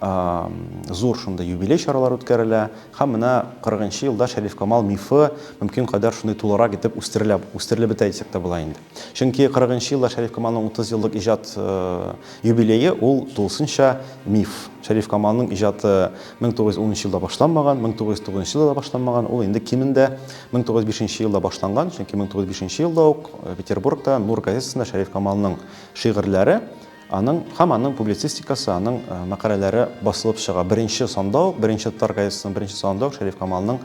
зур шундый юбилей чаралары үткәрелә һәм менә 40 нчы елда Шәриф Камал мифы мөмкин кадәр шундый тулырак итеп үстерелә, үстерелеп бетә дисәк тә була инде. Чөнки 40 нчы елда Шәриф Камалның 30 еллык иҗат юбилее ул тулысынча миф. Шәриф Камалның иҗаты 1910 нчы елда башланмаган, 1909 нчы елда да башланмаган, ул инде кимендә 1905 нче елда башланган, чөнки 1905 нче елда ук Петербургта Нур газетасында Шәриф Камалның шигырьләре, Аның һәм аның публицистикасы, аның мәкаләләре басылып чыга. Беренче санда ук, Беренче татар газетасының беренче санында ук Шәриф Камалның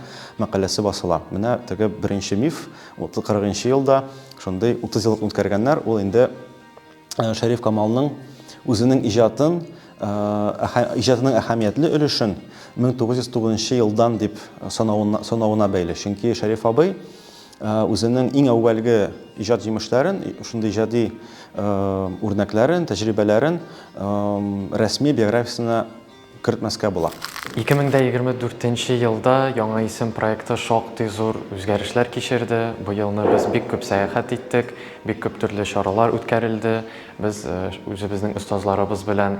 мәкаләсе басыла. Менә теге беренче миф, утлы кырыгынчы елда шундый утыз еллык үткәргәннәр, ул инде Шәриф Камалның үзенең иҗатын, иҗатының әһәмиятле өлешен 1909 елдан дип санавына бәйле. Чөнки Шәриф абый Үзенең иң әүвәлге иҗат җимешләрен, шундый иҗади үрнәкләрен, тәҗрибәләрен рәсми биографиясенә кертмәскә була. 2024 нче елда Яңа исем проекты шактый зур үзгәрешләр кичерде. Бу елны без бик күп сәяхәт иттек, бик күп төрле чаралар үткәрелде. Без үзебезнең остазларыбыз белән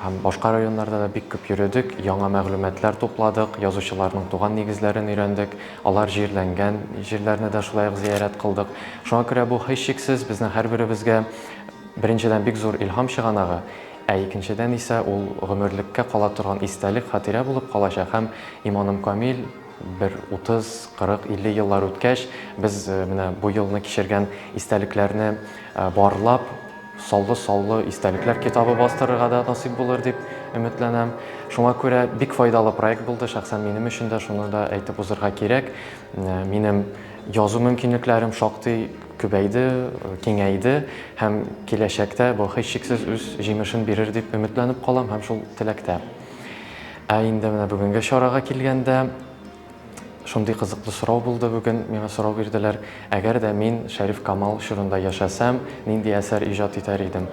Һәм башка районнарда да бик күп йөредек, яңа мәгълүматлар тупладык, язучыларның туган нигезләрен өйрәндек, алар җирләнгән җирләрне дә шулай ук зиярәт кылдык. Шуңа күрә бу, һичшиксез, безнең һәрберебезгә, беренчедән, бик зур илһам чыганагы, ә икенчедән исә ул гомерлеккә кала торган истәлек, хатирә булып калачак. Һәм, иманым камил, бер утыз, кырык, илле еллар үткәч, без менә бу елны кичергән истәлекләрне барлап, Саллы-саллы истәлекләр китабы бастырырга да насыйп булыр дип өметләнәм. Шуңа күрә бик файдалы проект булды, шәхсән минем өчен дә шуны да әйтеп узырга кирәк. Минем язу мөмкинлекләрем шактый күбәйде, киңәйде һәм киләчәктә бу һичшиксез үз җимешен бирер дип өметләнеп калам һәм шул теләктә. Ә инде менә бүгенге чарага килгәндә, Шундый кызыклы сорау булды бүген. Миңа сорау бирделәр, әгәр дә мин Шәриф Камал чорында яшәсәм, нинди әсәр иҗат итәр идем?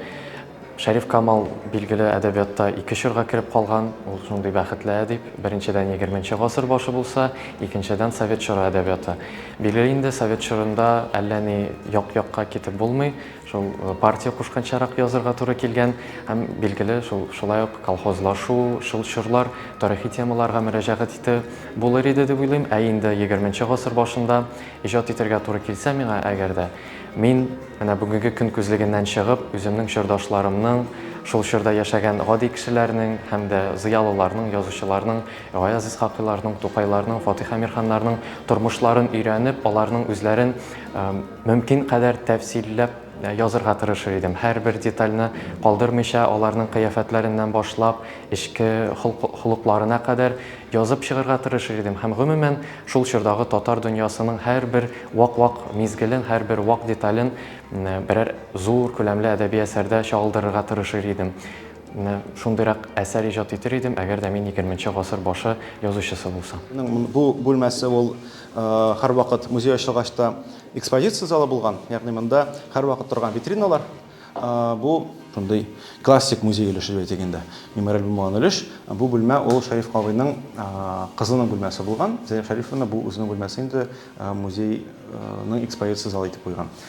Шәриф Камал, билгеле, әдәбиятта ике чорга кереп калган, ул шундый бәхетле әдип. Беренчедән, егерменче гасыр башы булса, икенчедән, совет чоры әдәбияты. Билгеле инде, совет чорында әллә ни як-якка китеп булмый. Шул партия кушканчарак язырга туры килгән һәм, билгеле, шул шулай ук колхозлашу, шул чорлар, тарихи темаларга мөрәҗәгать итү булыр иде дип уйлыйм. Ә инде егерменче гасыр башында иҗат итәргә туры килсә миңа, әгәр дә, мин, менә бүгенге көн күзлегеннән чыгып, үземнең чордашларымның, шул чорда яшәгән гади кешеләрнең һәм дә зыялыларның, язучыларның, Гаяз Исхакыйларның, Тукайларның, Фатыйх Әмирханнарның тормышларын өйрәнеп, аларның үзләрен Мөмкин кадәр тәфсилләп язырга тырышыр идем, һәрбер детальне калдырмыйча, аларның кыяфәтләреннән башлап, эчке холыкларына кадәр язып чыгарга тырышыр идем һәм, гомумән, шул чордагы татар дөньясының һәрбер вак-вак мизгелен, һәрбер вак детален берәр зур күләмле әдәби әсәрдә чагылдырырга тырышыр идем. Менә шундыйрак әсәр иҗат итер идем, әгәр дә мин егерменче гасыр башы язучысы булсам. Бу бүлмәсе ул Һәрвакыт музей ачылгач та экспозиция залы булган, ягъни монда һәрвакыт торган витриналар. Бу шундый классик музей өлеше дип әйтик инде. Мемориаль булмаган өлеш. Бу бүлмә ул Шәриф абыйның кызының бүлмәсе булган. Зәйнәб Шәрифовна бу үзенең бүлмәсен инде музейның экспозиция залы итеп куйган.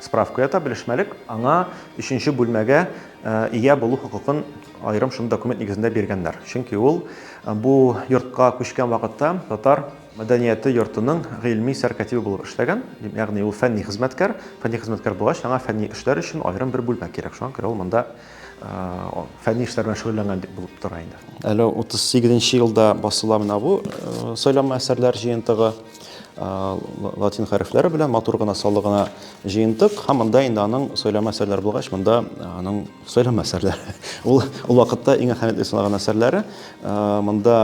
Справка ята, белешмәлек аңа өченче бүлмәгә ия булу хокукын аерым шундый документ нигезендә биргәннәр. Чөнки ул бу йортка күчкән вакытта татар мәдәнияте йортының гыйльми сәркатибе булып эшләгән, ягъни ул фәнни хезмәткәр, фәнни хезмәткәр булгач, аңа фәнни эшләр өчен аерым бер бүлмә кирәк. Шуңа күрә ул монда фәнни эшләр белән шөгыльләнгән дип булып тора инде. Әле 38 нче елда басыла менә бу сайлама әсәрләр җыентыгы. латин хәрефләре белән матур гына саллы гына җыентык һәм монда инде аның сөйләм әсәрләре булгач монда аның сөйләм әсәрләре ул ул вакытта иң әһәмиятле санаган әсәрләре монда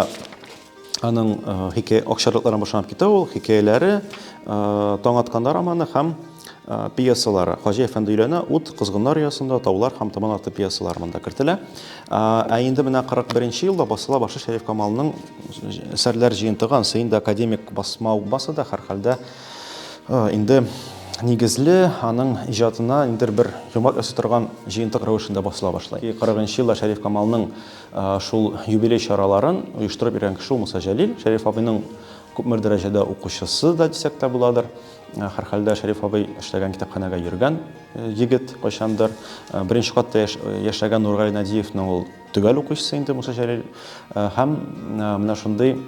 аның хикәя акчарлаклардан башланып китә ул хикәяләре таң атканда романы һәм Э, пьесалары Хаҗи әфәнде өйләнә, ут, козгыннар оясында, таулар һәм томан арты пьесалары монда кертелә. Э, ә инде менә 41 елда басыла башы Шәриф Камалның әсәрләр җыентыгы, ансы инде академик басма ук басы да, һәрхәлдә э, инде нигезле аның иҗатына инде бер юмат ясый торган җыентык рәвешендә басыла башлай. 40 елда Шәриф Камалның шул юбилей чараларын оештырып йөргән кеше ул Муса Җәлил, Шәриф абыйның күпмер дәрәҗәдә укучысы да дисәк тә буладыр. Һәрхәлдә, Шәриф абый эшләгән китапханәгә йөргән егет кайчандыр. Беренче катта яшәгән Нургали Надиевның ул төгәл укучысы инде Муса Җәлил. Һәм менә шундый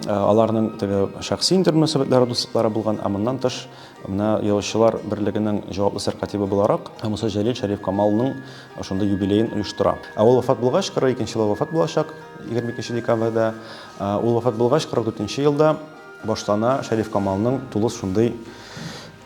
аларның теге шәхси инде мөнәсәбәтләре, дуслыклары булган, ә моннан тыш менә Язучылар берлегенең җаваплы сәркатибе буларак Муса Җәлил Шәриф Камалның шундый юбилеен оештыра. Ә ул вафат булгач, 42 нче елда вафат булачак, 22 нче декабрьдә. Ул вафат булгач, 44 нче елда Баштана Шәриф Камалның тулыс шундый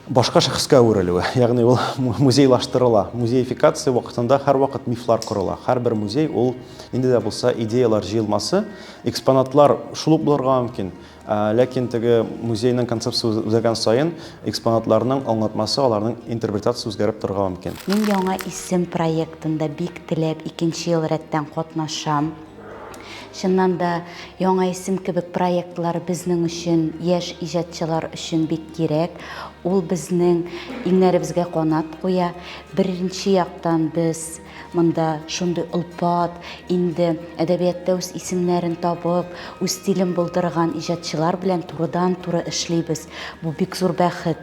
башка шәхескә әверелүе, ягъни ул музейлаштырыла. Музеификация вакытында һәрвакыт мифлар корыла. Һәрбер музей ул нинди дә булса идеялар җыелмасы. Экспонатлар шул ук булырга мөмкин, ә, ләкин теге музейның концепциясе үзгәргән саен экспонатларның аңлатмасы, аларның интерпретациясе үзгәреп торырга мөмкин. Мин Яңа исем проектында бик теләп икенче ел рәттән катнашам. Чыннан да, Яңа исем кебек проектлар безнең өчен, яшь иҗатчылар өчен бик кирәк. Ул безнең иңнәребезгә канат куя. Беренче яктан, без монда шундый олпат, инде әдәбиятта үз исемнәрен табып, үз стилен булдырган иҗатчылар белән турыдан-туры эшлибез. Бу бик зур бәхет.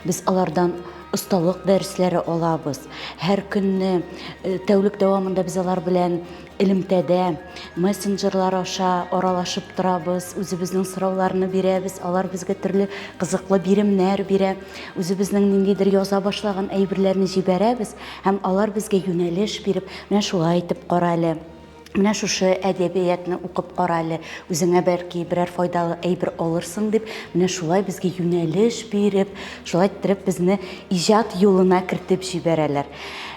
Без алардан осталык дәресләре алабыз. Һәр көнне, тәүлек дәвамында без алар белән Элемтәдә мессенджерлар аша аралашып торабыз, үзебезнең сорауларны бирәбез, алар безгә төрле кызыклы биремнәр бирә, үзебезнең ниндидер яза башлаган әйберләрне җибәрәбез һәм алар безгә юнәлеш биреп, менә шулай итеп кара әле, менә шушы әдәбиятны укып кара әле, үзеңә бәлки берәр файдалы әйбер алырсың дип, менә шулай безгә юнәлеш биреп, шулай иттереп безне иҗат юлына кертеп җибәрәләр.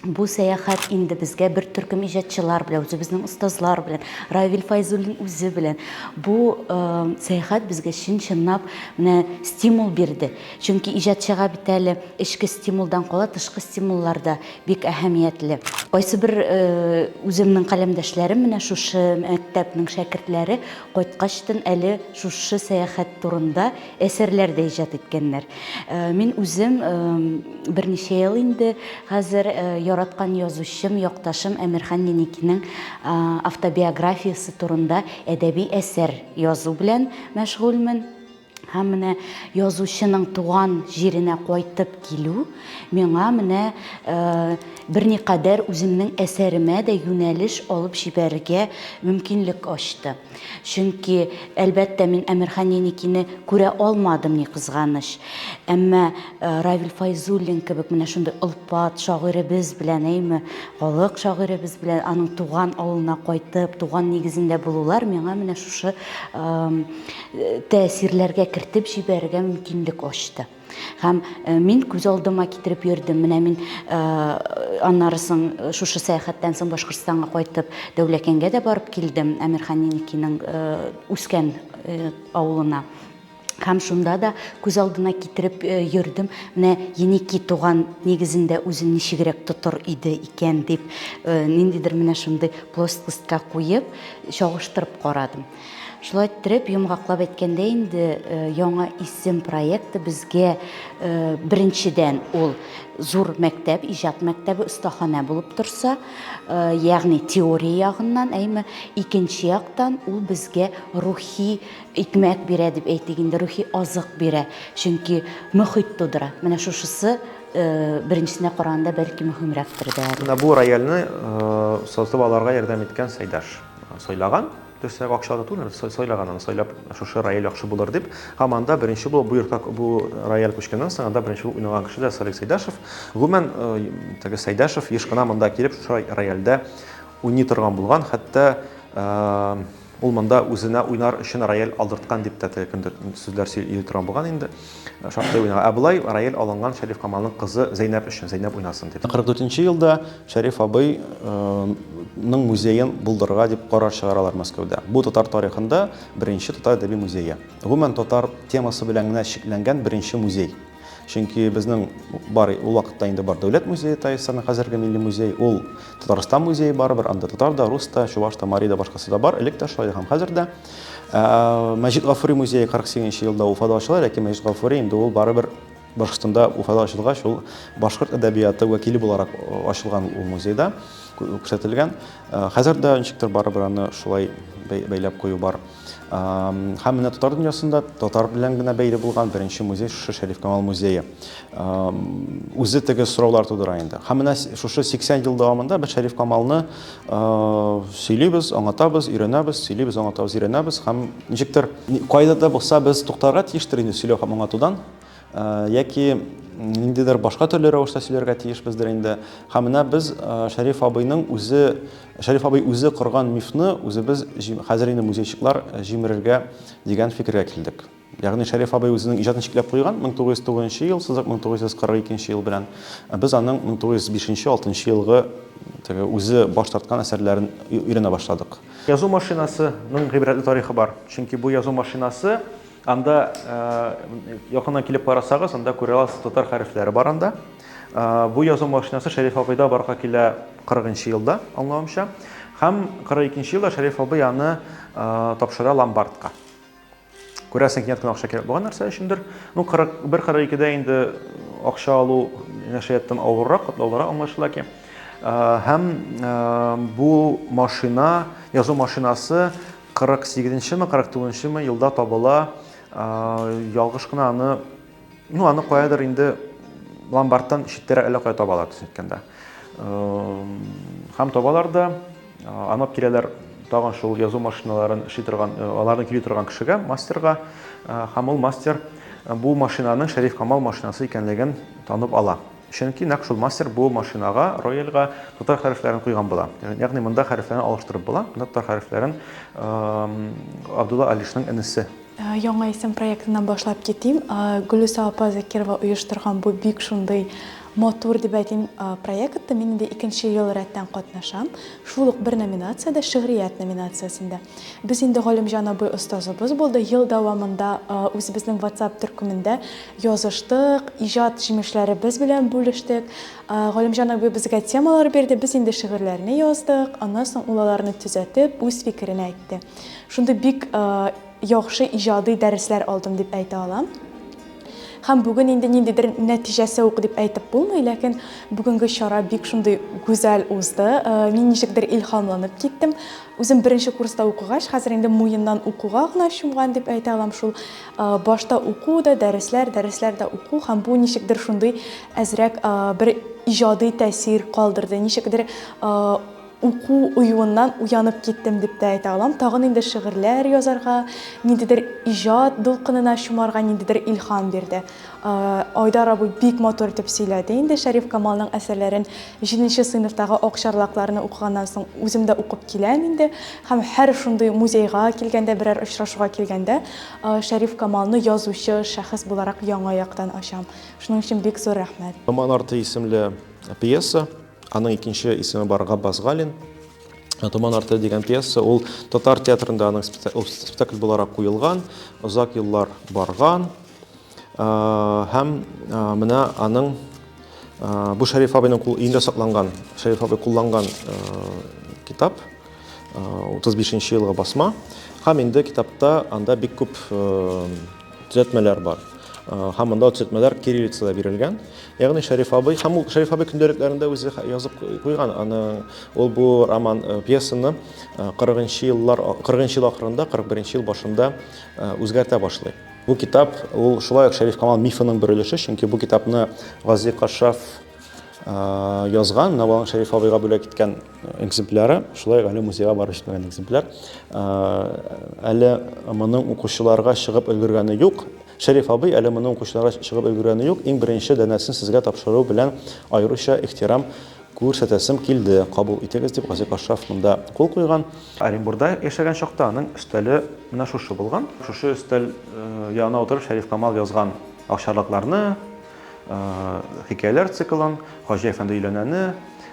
Бу сәяхәт инде безгә бер төркем иҗатчылар белән, үзебезнең остазлар белән, Равил Файзуллин үзе белән. Бу сәяхәт безгә чын-чынлап менә стимул бирде. Чөнки иҗатчыга бит әле эчке стимулдан кала, тышкы стимуллар да бик әһәмиятле. Кайсы бер үземнең каләмдәшләрем, менә шушы мәктәпнең шәкертләре кайткачтын әле шушы сәяхәт турында әсәрләр дә иҗат иткәннәр. Мин үзем берничә ел инде хәзер яраткан язучым, якташым Әмирхан Еникинең автобиографиясе турында әдәби әсәр язу белән мәшгульмен. Һәм менә язучының туган җиренә кайтып килү миңа менә берникадәр үземнең әсәремә дә юнәлеш алып җибәрергә мөмкинлек ачты. Чөнки, әлбәттә, мин Әмирхан Еникине күрә алмадым, ни кызганыч. Әмма Равил Файзуллин кебек менә шундый олпат шагыйребез белән, әйме, халык шагыйребез белән аның туган авылына кайтып, туган нигезендә булулар миңа менә шушы тәэсирләргә кертеп җибәрергә мөмкинлек ачты. Һәм мин күз алдыма китереп йөрдем. Менә мин аннары соң шушы сәяхәттән соң Башкортстанга кайтып, Дәүләкәнгә дә барып килдем, Әмирхан Еникинең үскән авылына. Һәм шунда да күз алдына китереп йөрдем. Менә Еники туган нигезендә үзен ничегрәк тотыр иде икән дип, ниндидер менә шундый плоскостька куеп, чагыштырып карадым. Шулай иттереп, йомгаклап әйткәндә инде яңа исем проекты безгә беренчедән ул зур мәктәп, иҗат мәктәбе, остахана булып торса, ягъни теория ягыннан, әйме, икенче яктан ул безгә рухи икмәк бирә дип әйтик инде, рухи азык бирә. Чөнки мөхит тудыра. Менә шушысы беренчесенә караганда бәлки мөһимрәктер дә әле. Менә бу рояльне сатып алырга ярдәм иткән Сәйдаш. Сайлаган, төрлесәк акча да түгел, сайлаган аны сайлап, шушы рояль яхшы булыр дип, һәм анда беренче булып бу йортка бу рояль күчкәннән соң анда беренче булып уйнаган кеше дә Салих Сәйдәшев. Гомумән, теге Сәйдәшев еш кына монда килеп шушы рояльдә уйный торган булган, хәтта ул монда үзенә уйнар өчен рояль алдырткан дип тә теге кемдер сүзләр сөйли торган булган инде. Шактый уйнаган. Ә болай Раэль алынган Шәриф Камалның кызы Зәйнәп өчен, Зәйнәп уйнасын дип. 44 нче елда Шәриф абый ның музеен булдырырга дип карар чыгаралар Мәскәүдә. Бу татар тарихында беренче татар әдәби музее. Гомумән, татар темасы белән генә чикләнгән беренче музей. Чөнки безнең бар ул вакытта инде бар дәүләт музее Таисаны хәзерге милли музей, ул Татарстан музее барыбер, анда татар да, рус та, чуваш та, мари да, башкасы да бар, элек тә шулай һәм хәзер дә. Ә, Мәҗит Гафури музее 48 нче елда Уфада ачыла, ләкин Мәҗит Гафури инде ул барыбер Башкортстанда Уфада ачылгач, ул башкорт әдәбияты вәкиле буларак ачылган ул музейда күрсәтелгән. Ә, Хәзер дә ничектер барыбер аны шулай бәй- бәйләп кую бар. Ә, Һәм менә татар дөньясында татар белән генә бәйле булган беренче музей шушы Шәриф Камал музее. Ә, Үзе теге сораулар тудыра инде. Һәм менә с- шушы 80 ел дәвамында без Шәриф Камалны сөйлибез, аңлатабыз, өйрәнәбез, сөйлибез, аңлатабыз, өйрәнәбез һәм ничектер кайда да булса без туктарга тиештер инде сөйләү һәм аңлатудан яки ниндидер башка төрле рәвештә сөйләргә тиешбездер инде һәм менә без Шәриф абыйның үзе Шәриф абый үзе корган мифны үзебез хәзер инде музейчиклар җимерергә дигән фикергә килдек. Ягъни Шәриф абый үзенең иҗатын чикләп куйган 1909 нчы ел, сызык 1942 нче ел белән. Ә без аның 1905 нче, 6 нчы елгы теге үзе баш тарткан әсәрләрен ө- өйрәнә башладык. Язу машинасы ның гыйбрәтле тарихы бар. Чөнки бу язу машинасы, анда э, якыннан килеп карасагыз, анда күрә аласыз, татар хәрефләре бар анда. Э, бу язу машинасы Шәриф абыйда барлыкка килә 40 нчы елда, аңлавымча. Һәм 42 нче елда Шәриф абый аны э, тапшыра ломбардка. Күрәсең, кинәт кенә акча кирәк булган нәрсә өчендер. Ну, 41-42-дә инде акча алу нәшәяттан авыррак, котлаулырак аңлашыла ки. Һәм бу машина, язу машинасы 48-ме, 49-ме елда табыла. Ялгыш кына аны Ну, аны каядыр инде ломбардтан читтәрәк әллә кая табалар төс иткәндә. Һәм табалар да, анап киләләр тагын шул язу машиналарын эшли торган, аларны кили торган кешегә, мастерга, һәм ул мастер бу машинаның Шәриф Камал машинасы икәнлеген танып ала. Чөнки нәкъ шул мастер бу машинага, рояльга татар хәрефләрен куйган була. Ягъни монда хәрефләрне алыштырып була. Монда татар хәрефләрен Абдулла Алишның энесе Яңа исем проектыннан башлап китим. Гөлүсә апа Закирова оештырган бу бик шундый матур дип әйтим проектта мин инде икенче ел рәттән катнашам. Шул ук бер номинациядә, шигърият номинациясендә. Без инде Галимҗан абый остазыбыз булды, ел дәвамында үзебезнең WhatsApp төркемендә языштык, иҗат җимешләребез белән бүлештек. Галимҗан абый безгә темалар бирде, без инде шигырьләрне яздык, аннан соң ул аларны төзәтеп, үз фикерен әйтте. Шундый бик яхшы иҗади дәресләр алдым дип әйтә алам. Һәм бүген инде ниндидер нәтиҗәсе ук дип әйтеп булмый, ләкин бүгенге чара бик шундый гүзәл узды. Э, мин ничектер илһамланып киттем. Үзем беренче курста укыгач, хәзер инде муеннан укуга гына чумган дип әйтә алам шул. Э, башта уку да, дәресләр, дәресләр дә уку һәм бу ничектер шундый әзрәк э, бер иҗади тәэсир калдырды. Ничектер Уку уюыннан уянып киттем дип тә әйтә алам. Тагын инде шигырьләр язарга, ниндидер иҗат дулкынына чумарга ниндидер илһам бирде. Айдар абый бик матур итеп сөйләде инде Шәриф Камалның әсәрләрен. Җиденче сыйныфтагы Акчарлакларны укыганнан соң үзем дә укып киләм инде. Һәм һәр шундый музейга килгәндә, берәр очрашуга килгәндә Шәриф Камалны язучы шәхес буларак яңа яктан ачам. Шуның өчен бик зур рәхмәт. Заман арты исемле пьеса. Аның икенче исеме бар Габбас Галин. Томан арты дигән пьеса, ул татар театрында аның спектакль буларак куелган, озак еллар барган. Һәм менә аның бу Шәриф абыйның өендә сакланган, Шәриф абый кулланган китап. 35 нче елгы басма һәм инде китапта анда бик күп төзәтмәләр бар һәм монда төзәтмәләр кириллицада бирелгән ягъни шәриф абый һәм ул шәриф абый көндәлекләрендә үзе язып куйган аны ул бу роман пьесаны кырыгынчы еллар кырыгынчы ел ахырында кырык беренче ел башында үзгәртә башлый бу китап ул шулай ук шәриф камал мифының бер өлеше чөнки бу китапны гази кашаф язган, Навалың Шәриф абыйга бүләк иткән экземпляры, шулай ук әле музейга барып җитмәгән экземпляр. Әле моның укучыларга чыгып өлгергәне юк. Шәриф абый әле моның укучыларга чыгып өлгергәне юк. Иң беренче данәсен сезгә тапшыру белән аеруча ихтирам күрсәтәсем килде. Кабул итегез, дип Гази Кашшаф монда кул куйган. Оренбурда яшәгән чакта аның өстәле менә шушы булган. Шушы өстәл янына утырып Шәриф Камал язган акчарлакларны, хикәяләр циклын, Хаҗи әфәнде өйләнәне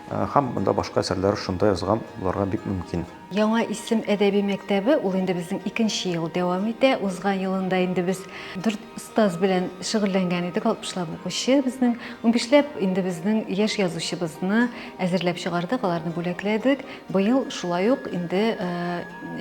һәм монда башка әсәрләр шунда язган булырга бик мөмкин. Яңа исем әдәби мәктәбе ул инде безнең икенче ел дәвам итә. Узган елында инде без дүрт остаз белән шөгыльләнгән идек, 60лап укучы безнең, унбишләп инде безнең яшь язучыбызны әзерләп чыгардык, аларны бүләкләдек. Быел шулай ук инде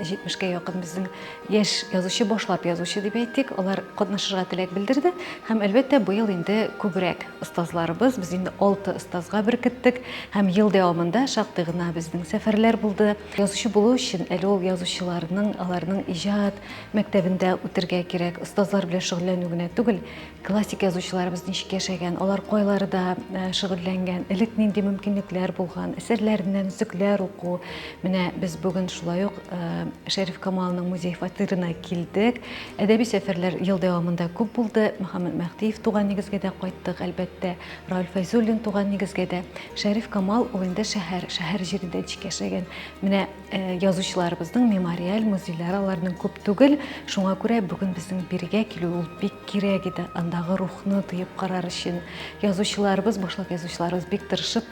җитмешкә якын безнең Яшь язучы, башлап язучы дип әйтик, алар катнашырга теләк белдерде. Һәм, әлбәттә, быел инде күбрәк остазларыбыз, без инде алты остазга беркеттек. Һәм ел дәвамында шактый гына безнең сәфәрләр булды. Язучы булу өчен, әле ул язучыларның, аларның иҗат мәктәбендә үтергә кирәк, остазлар белән шөгыльләнү генә түгел, Классик язучыларыбыз ничек яшәгән, алар кайларда э, шөгыльләнгән, элек нинди мөмкинлекләр булган, әсәрләреннән сөкләр уку. Менә без бүген шулай ук э, Шәриф Камалның музей фатирына килдек. Әдәби сәфәрләр ел дәвамында күп булды. Мөхәммәд Мәхтиев туган нигезгә дә кайттык, әлбәттә. Рауль Файзуллин туган нигезгә дә. Шәриф Камал ул инде шәһәр, шәһәр җирендә ничек яшәгән. Менә Э, язучыларыбызның мемориаль музейлары аларның күп түгел шуңа күрә бүген безнең бирегә килү ул бик кирәк иде андагы рухны тоеп карар өчен язучыларыбыз башлык язучыларыбыз бик тырышып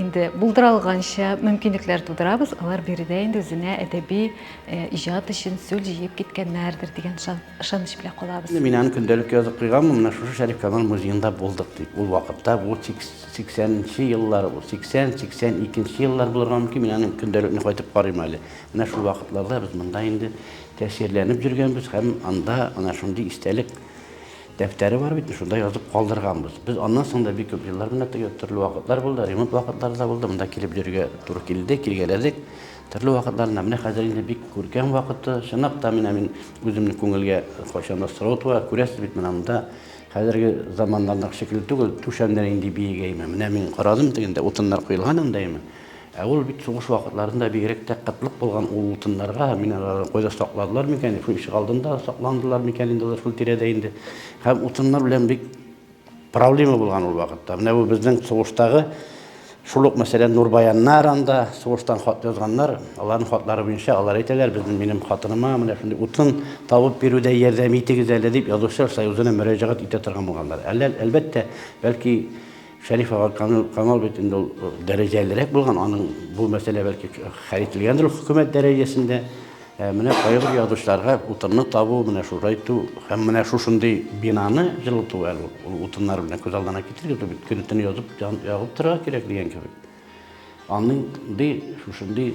инде булдыра алганча мөмкинлекләр тудырабыз алар биредә инде үзенә әдәби э, иҗат өчен сүл җыеп киткәннәрдер дигән ышаныч белән калабыз мин аны көндәлек язып куйганмын менә шушы шәриф камал музеенда булдык дип ул вакытта бу текст 80 нче еллар бу, 80, 82 нче еллар булырга мөмкин, мин аны көндәлекне кайтып карыйм әле. Менә шул вакытларда без монда инде тәэсирләнеп йөргәнбез һәм анда ана шундый истәлек дәфтәре бар бит, шунда язып калдырганбыз. Без аннан соң да бик күп еллар менә теге төрле вакытлар булды, ремонт вакытлары да булды, монда килеп йөрергә туры килде, килгәләдек. Төрле вакытларында менә хәзер инде бик күркәм вакыты, чынлап та менә мин үземнең күңелгә кайчан да сорау туа, күрәсез бит менә монда Хәзерге замандагы шикелле түгел, түшәмнәр инде биегәйме. Менә мин карадым дигәндә, утыннар куелган андаймы. Ә ул бит сугыш вакытларында бигрәк тә кытлык булган ул утыннарга. Мин аларны кайда сакладылар микән, шул ишек алдында сакландылар микән инде алар шул тирәдә инде. Һәм утыннар белән бик проблема булган ул вакытта. Менә бу безнең сугыштагы Шул ук мәсәлән Нурбаяннар анда сугыштан хат язганнар. Аларның хатлары буенча алар әйтәләр, безнең минем хатыныма менә шундый утын табып бирүдә ярдәм итегез әле дип язучылар союзына мөрәҗәгать итә торган булганнар. Әллә әлбәттә, бәлки Шәриф ага Камил, Камал бит инде ул дәрәҗәлерәк булган, аның бу мәсьәлә бәлки хәл ителгәндер хөкүмәт дәрәҗәсендә. Ә менә кайбер язучыларга утынны табу, менә шулай итү һәм менә шушындый бинаны җылыту әле ул утыннар белән күз алдына китергезү бит көн төн язып ягып торырга кирәк дигән кебек. Андый шушындый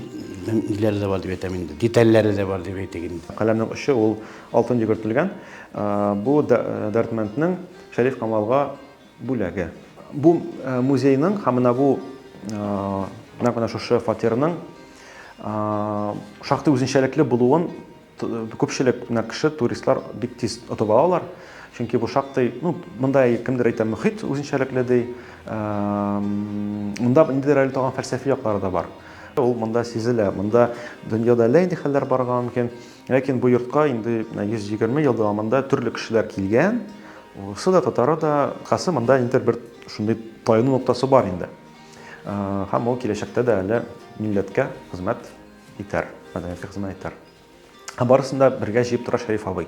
ниләр дә бар дип әйтәм инде, детальләре дә бар дип әйтик инде. Каләмнең очы ул алтын йөгертелгән. Бу Дәрдмәнднең Шәриф Камалга бүләге. Бу музейның һәм менә бу нәкъ менә шушы фатирның шактый үзенчәлекле булуын күпчелек менә кеше, туристлар бик тиз отып алалар. Чөнки бу шактый, ну, монда кемдер әйтә, мөхит үзенчәлекле ди. Монда ниндидер әле тагын фәлсәфи яклары да бар. Ул монда сизелә. Монда дөньяда әллә нинди хәлләр барга мөмкин. Ләкин бу йортка инде 120 ел дәвамында төрле кешеләр килгән. Урысы да, татары да, касы монда инде бер шундый тайну ноктасы бар инде. Һәм ул киләчәктә дә әле милләткә хезмәт итәр, мәдәниятка хезмәт итәр. Ә барысын да бергә җыеп тора Шәриф абый.